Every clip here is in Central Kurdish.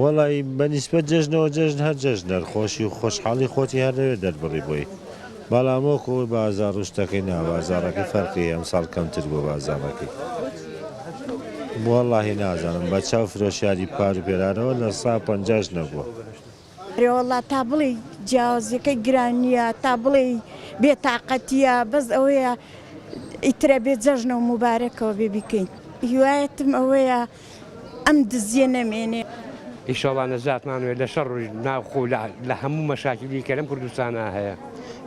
وەڵایی بە نیسبەت جەژنەوە جەژن هەر جەژنە خۆشی و خۆشحاڵی خۆتی هەر لەوێ دەربڕی بۆی بەڵام وەک ئەوەی بازاڕ ڕشتەکەی نا بازاڕەکەی فەرقی ئەمساڵ کەمتر بووە بازاڕەکەی وەڵاهی نازانم بە چاو فرۆشیاری پار و پێرانەوە لە سا پەنجاش نەبووە. ئەرێوەڵا تا بڵێی جیاوازیەکەی گرانیە تا بڵێی بێ تاقەتیە بەس ئەوەیە ئیترە بێ جەژنە و موبارەکەوە بێ بیکەین هیوایەتم ئەوەیە. ئەم دزیە نەمێنێ. ئیشەڵا نەجاتمان وێ لە شەڕ و ناوخۆ و لە هەموو مەشاکیلی کە لەم کوردستانا هەیە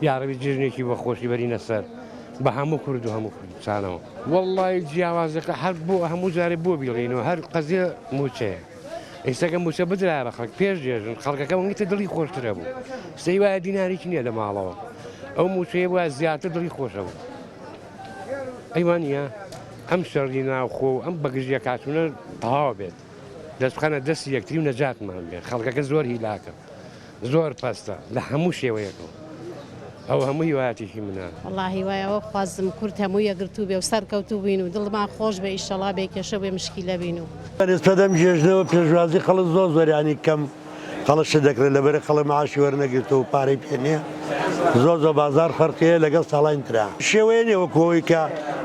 یاڕەبی جێژنێکی بە خۆشی بەرینە سەر بە هەموو کورد و هەموو کوردستانەوە. وەڵڵایی جیاوازەکە هەر بۆ هەموو جارێ بۆ بیڵێینەوە هەر قەزیە مووچەیە ئیستا گەر مووچە بدرایە بە خەڵک پێش جێژن خەڵکەکە ونگتە دڵی خۆشترە بوو سەی وایە دیناریکی نییە لە ماڵەوە ئەو مووچەیە بوایە زیاتر دڵی خۆشە بوو. ئەی وانیە ئەم شەڕی ناوخۆ و ئەم بەگژیەک هاتونە تەواو بێت دەست بخەنە دەستی یەکتری و نەجاتمان بێت خەڵکەکە زۆر هیلاکە زۆر پەستە لە هەموو شێوەیەکەوە ئەو هەموو هیواتێکی منە الله هیوایەوە خوازم کورد هەموو یەگرتوو بێ و سەرکەوتو بین و دڵما خۆش بێ ئیشەڵا بێ کێشە بێ مشکیلە بین و. بەرێز پەدەم گێژنەوە پێشوازی خەڵک زۆر زۆر یانی کەم. قەڵە شت دەکرێت لەبەرە قەڵە معاشی وەرنەگرتەوە پارەی پێ نییە زۆر زۆر بازار فەرقیە لەگەڵ ساڵانی ترا شێوەیە نیە وەکو ئەوەی کە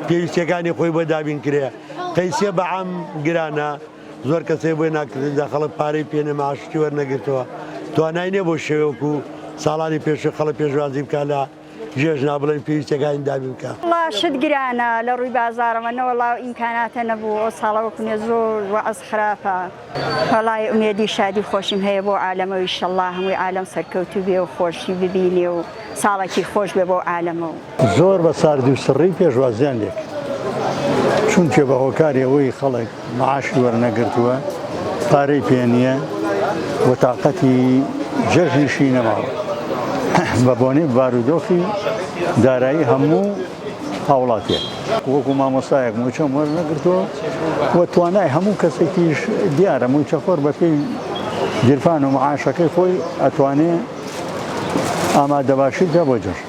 پێویستیەکانی خۆی بۆ دابین کرێ قەیسیە بە عام گرانە زۆر کەسێ بۆی ناکرددا خەڵک پارەی پێێ معاشتی وەرنەگرتەوە توانای نیە بۆ شێوەکو ساڵانی پێشوی خەڵە پێشوازی بکە لە جێژ نا بڵێن پێویستە گاین دابین کە. وەڵا شت گرانە لە ڕوی بازاڕەوە نەوەڵا و ئیمکاناتە نەبوو ئەو ساڵە وەکو نێ زۆر وەعز خراپە وەڵای ئومێدی شادی خۆشیم هەیە بۆ عالەمەو ئیشەڵا هەمووی عالەم سەرکەوتوو بێ و خۆشی ببینێ و ساڵەکی خۆش بێ بۆ عالەمە و. زۆر بە ساردی و سڕی پێشوازیان لێکرد چونکێ بە هۆکاری ئەوەی خەڵک معاشی وەرنەگرتووە، پارەی پێ نییە و تاقەتی جەژنیشی نەماوە. بە بۆنەی بارودۆخی دارایی هەموو هاوڵاتییەک. وەکو مامۆستایەک مووچەم وەرنەگرتووە و توانای هەموو کەسێکیش دیارە، مووچەخۆر بە پێی گیرفان و معاشەکەی خۆی ئەتوانێ ئامادەباشی بکا بۆ جەژن.